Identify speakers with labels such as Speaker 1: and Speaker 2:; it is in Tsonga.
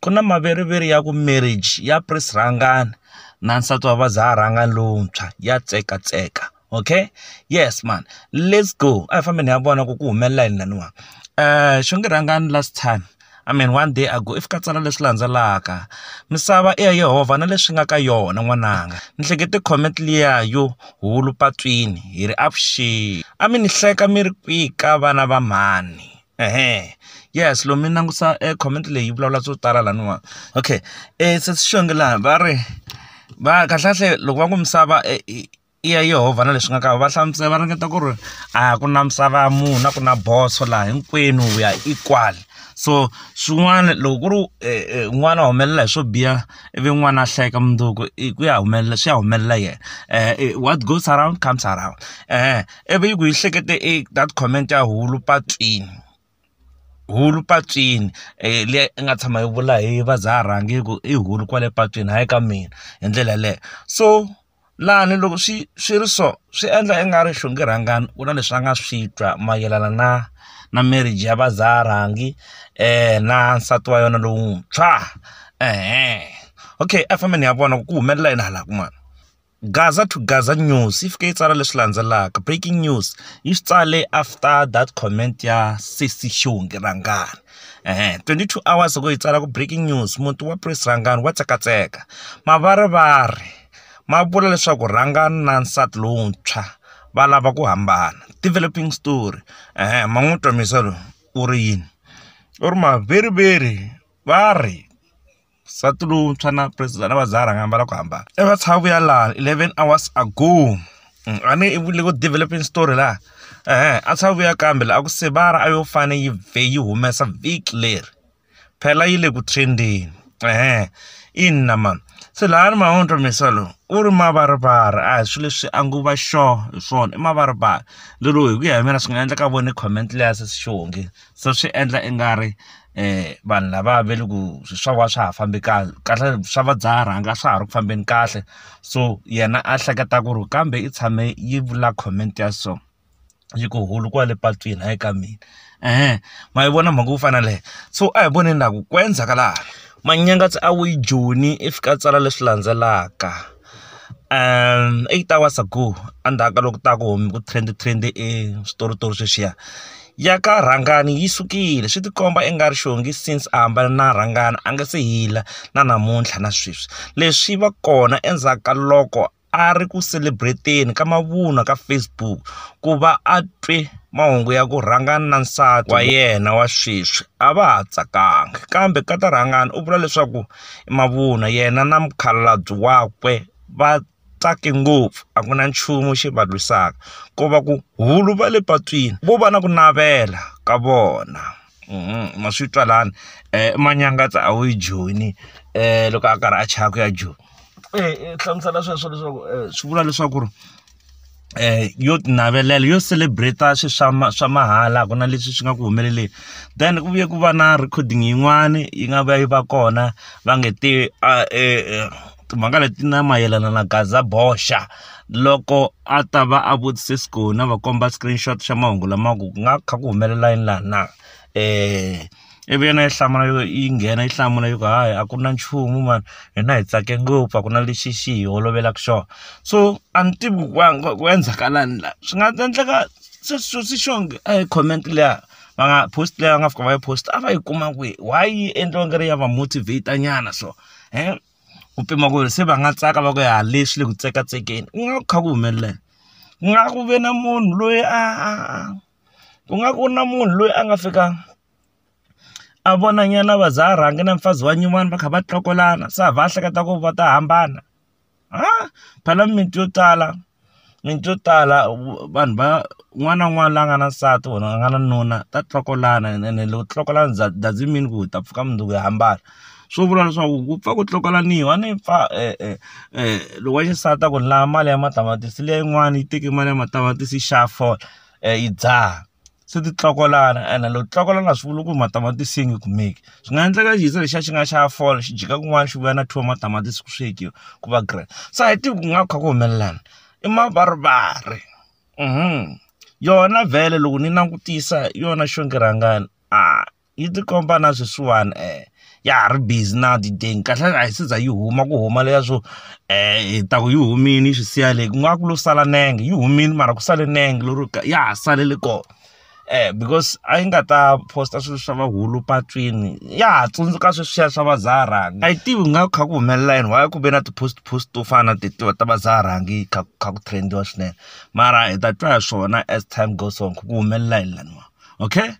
Speaker 1: ku na maveriveri ya ku marriage ya press rhangana na nsati wa vazarhangani lowuntshwa ya tseka tseka okay yes mhani let's go a hi fambeni hi ya vona ku ku humelela yini laniwa xo nge rhangani last time I mean one day ago if ka tsala leswi landzelaka misava i ya Yehovha na leswi nga ka yona n'wananga ni hlekete comment liya yo hulu patwini hi ri avuxeni a mi ni hleka mi ri kwihi ka vana va mhani. yes lomu mi langusa e comment leyi yi vulavula swo tala laniwa okay se swi xonge laha va ri va kahlekahle loko va ku misava i ya yehovha na leswi nga ka va hlamusela va ringeta ku ri a ku na misava ya munhu a ku na boso laha hinkwenu we are equal so swin'wana loko ku ri n'wana a humelela hi swo biha ivi n'wana a hlayeka mundzuku i ku ya humelela swi ya humelela yena what goes around comes around . ivi yi ku yi hlekete i that comment ya hulu patwini hulu patwini liya i nga tshama yi vula hi va za ha rhangi ku i hulu kwale patwini hayi ka mina hi ndlela yaleyo so lani loko swi swi ri so swi endla i nga ri xonge rhangani ku na leswi a nga swi twa mayelana na na marriage ya va za ha rhangi na nsati wa yena lowuntshwa okay a fambeni ya vona ku humelela yini hala kun'wana. Gaza to Gaza News yi fike yi tsala leswi landzelaka, Breaking News, yi swi tsale after that comment ya sesi xihundla Rhangani. 22 hours ago yi tsala ku Breaking News, muti wa Prince Rhangani wa tsekatseka. Mavarivari ma vula leswaku Rhangani na nsati lowuntshwa va lava ku hambana. Developing Story, ma n'wi twa Misa loyi u ri yini? U ri Maveriveri va ri. nsati lowuntshwa na president a va za a rhanga ambala ku hambana i va tshava ku ya laha eleven hours ago mm, a ni i vule ku developing story laha ehe a tshava ku ya kambe laha a ku sevara a yo fane yi vhe yi humesa vhiki leri phela yi le ku trendeni ehe ina mani se laha ni mahondlo misa lowu u ri mavarivara a hi swilo leswi a nguva xo hi swona i mavarivara lero hi ku ya hi mina swi nga endleka vone comment leya se xihonge se swi endla i nga ri vanhu lava va le ku swi swa wena a swa ha fambi kahle kahle swa va dzaha rhanga a swa ha ri ku fambeni kahle so yena a hleketa ku ri kambe i tshame yi vula comment ya so yi ku hulu kwale patwini hayi ka mina eeh ma yi vona mhaka yo fana na leyo so a hi voneni ingaku ku endleka laha manyangatsa a wu yi joni i fika a tsala leswi landzelaka. eight hours ago endzhaku ka loko ku ta ku ku trend trend e switoritori sweswiya ya ka rhangani yi sukile swi tikomba i nga ri xongi since a hambana na rhangana a nga se hila na namuntlha na sweswi leswi va kona endzhaku ka loko a ri ku celebrate-eni ka mavunwa ka Facebook ku va a twe mahungu ya ku rhangana na nsati wa yena wa sweswi a va ha tsakanga kambe ka ta rhangana u vula leswaku. i mavunwa yena na mukhalabye wakwe va tsake ngopfu a ku na nchumu xi va lwisaka ko va ku hulu va le patwini vo va na ku navela ka vona ma swi twa lani manyangatsa a wu yi joyini loko a karhi a chava ku ya joni hlamusela sweswo leswaku swi vula leswaku ri. yo ti navelela yo celebrate-a swilo swa ma swa mahala a ku na leswi swi nga ku humeleleni then ku vuye ku va na recording yin'wani yi nga va yi va kona va nge te timhaka leti na mayelana na gaza boxa loko a ta va a vutise skona a va komba screenshot xa mahungu lama ku nga kha ku humelela yini laha na . ivi yena yi hlamula yo yi nghena yi hlamula yi ku hayi a ku na nchumu mhani hina hi tsake ngopfu a ku na lexi xi hi holovelaka xona so a ni tivi ku ku endlekalani la swi nga endleka se swilo swi xo nge a hi comment liya va nga post leyi va nga fika va yi post a va yi kuma kwihi why yi endliwa nga ri ya va motivater nyana so ku pima ku ri se va nga tsaka va ku ya le swi le ku tsekatsekeni ku nga va ku kha ku humelela ku nga ku ve na munhu loyi a a a. ku nga ku na munhu loyi a nga fika a vona nyana va za a rhangi na mufazi wa nyuwani va kha va tlokolana se a va a hleketa ku va ta hambana ha phela mimiti yo tala mimiti yo tala vanhu va un'wana na un'wana la nga na nsati or a nga na nuna ta tlokolana ene loko ti tlokolana doesn't mean ku hi ta pfuka mundzuku hi hambana swo vula leswaku ku pfa ku tlokolaniwa a ni pfa loko wa xisati a ku ni lava mali ya matamatisi leyin'wani yi teke mali ya matamatisi yi xava fole. yi dzaha se ti tlokolana ene loko ti tlokolana a swi vuli ku ri matamatisi yi nge kumeki swi nga endleka xi ze lexiya xi nga xa fola xi dyeka kun'wana xi vuya na two wa matamatisi ku swekiwa ku va green se a hi tivi ku nga va ku kha ku humelela yini i mavarivari yona vhele loko ni langutisa hi yona xongo rhangani . yi ti komba na sweswiwani um ya ha ri busy na dideni kahle a yi se za yi huma ku huma leya swo um hi ta ku yi humile yi swi siya le ku nga ku lo sala nenge yi humile mara ku sale nenge lero ya ha salele kona um because a yi nga ta posta swilo swa vahulu patwini ya ha tsundzuka sweswiya swa vazaharangi a yi tivi ku nga kha ku humelela yini why ku ve na ti-post post to fana na tetiwa ta vazaharangi kha kha ku trendiwa swinene mara hi ta twa hi swona as time goes on ku ku humelela yini laniwa okay